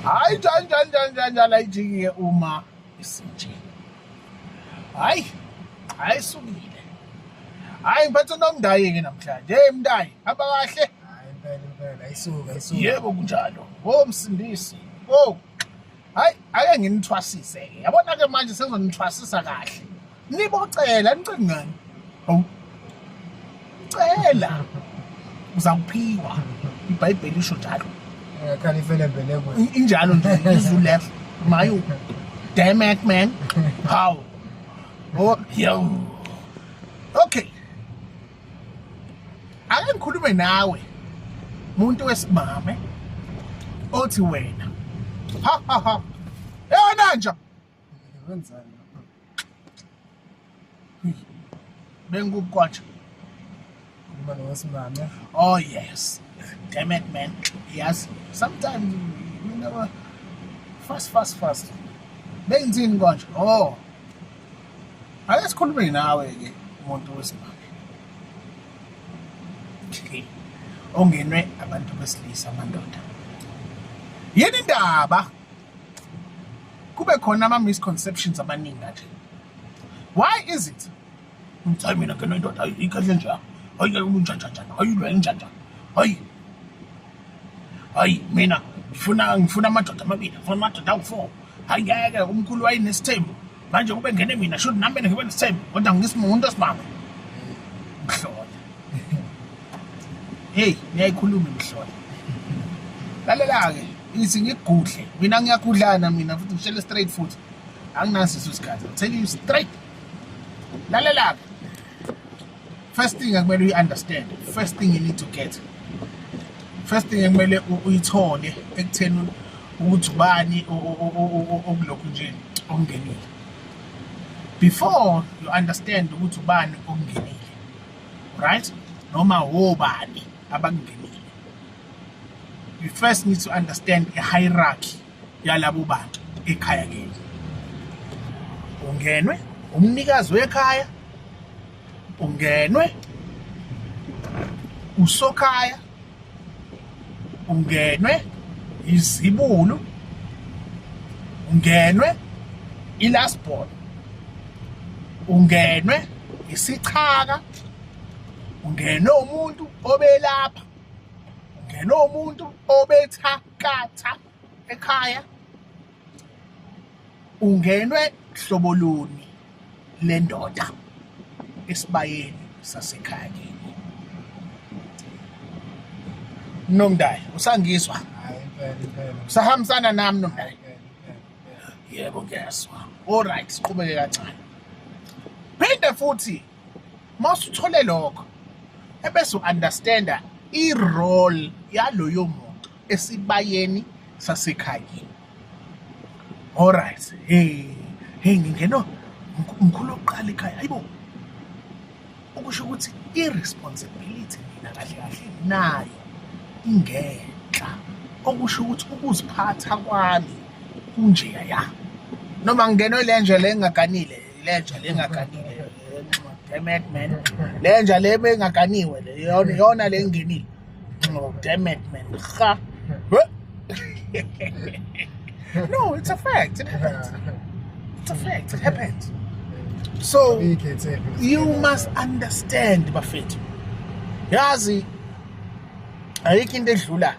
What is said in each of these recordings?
hayi njani njani njani njani njani ayijiki-ke uma isinje hayi hayi sukile hayi ngiphathe nomndayi-ke namhlanje hey mndayi hamba kahle yebo kunjalo o msindisi o hayi ake nginithwasise-ke yabona-ke manje sengizonithwasisa kahle nibocela nicela ngani hawu cela uzakuphiwa ibhayibheli lisho njalo khani ifele mbelekwe injalo nje izulu left mayo damn it man how oh yo okay ake ngikhulume nawe muntu wesimame othi wena ha ha ha yona nje bengukwatsha umane wesimame oh yes damn it man yes sometimes you know fast fast fast benzini konje oh ake sikhulume nawe ke umuntu wesimame ongenwe abantu besilisa amandoda yini indaba kube khona ama misconceptions abaningi kanje why is it ngithi mina ke nendoda ikahle nje hayi ke umuntu njani hayi lo njani hayi hayi mina ngifuna ngifuna amadoda amabili ngifuna amadoda awu-four hayi ngeke umkhulu wayenesithembu manje kube ngene mina should nami mina ngibe nesithembu kodwa ngisimuntu osibamba mhlola hey niyayikhuluma mhlola lalela-ke ithi ngigudle mina ngiyagudlana mina futhi ngishele straight futhi anginasiso isikhathi tell you straight lalela-ke first thing ekumele uyi-understand first thing you need to get first thing ekumele uyithole ekutheni ukuthi ubani okulokhu nje okungenile before you understand ukuthi ubani okungenile right noma wobani abakungenile you first need to understand a hierarchy yalabo bantu ekhaya kini ungenwe umnikazi wekhaya ungenwe usokhaya ungenwe izibulu ungenwe ilasbon ungenwe isichaka ungenwe umuntu obelapha ungenwe umuntu obetha Katha ekhaya ungenwe hlobo luni lendoda esibayeni sasekhaya kini nomndali usangizwa usahambisana nami nomndali yebo ngiyazwa all right siqhubeke kancane phinde futhi mawusuthole lokho ebese uunderstanda irole yaloyo muntu esibayeni sasekhayeni alright hey hey ngingena mkhulu oqala ekhaya hayibo okusho ukuthi i-responsibility mina kahle kahle nayo ingenhla okusho ukuthi ukuziphatha kwami kunjeya noma ngingenwe le nje le engaganile lenja le engaganiwe demet man lenja le engaganiwe le yona le engenile demet man ha no it's a fact it happens it's a fact it happens so you must understand bafethu yazi ayikho into edlulayo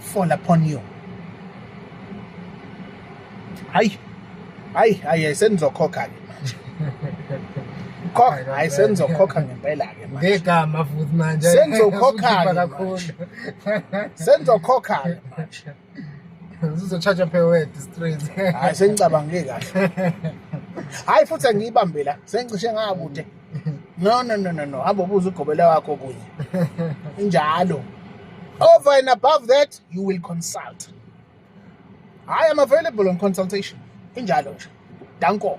fall upon you hayi hayi hayi senizokhokha ke manje khokha hayi senizokhokha ngempela ke manje ngegama futhi manje senizokhokha kakhulu senizokhokha ke manje uzochaja phewed straight hayi sengicabangile kahle hayi futhi angiyibambela sengicishe ngakude no no no no no hamba ubuza ugobela wakho kunye injalo over and above that you will consult i am available on consultation injalo nje danko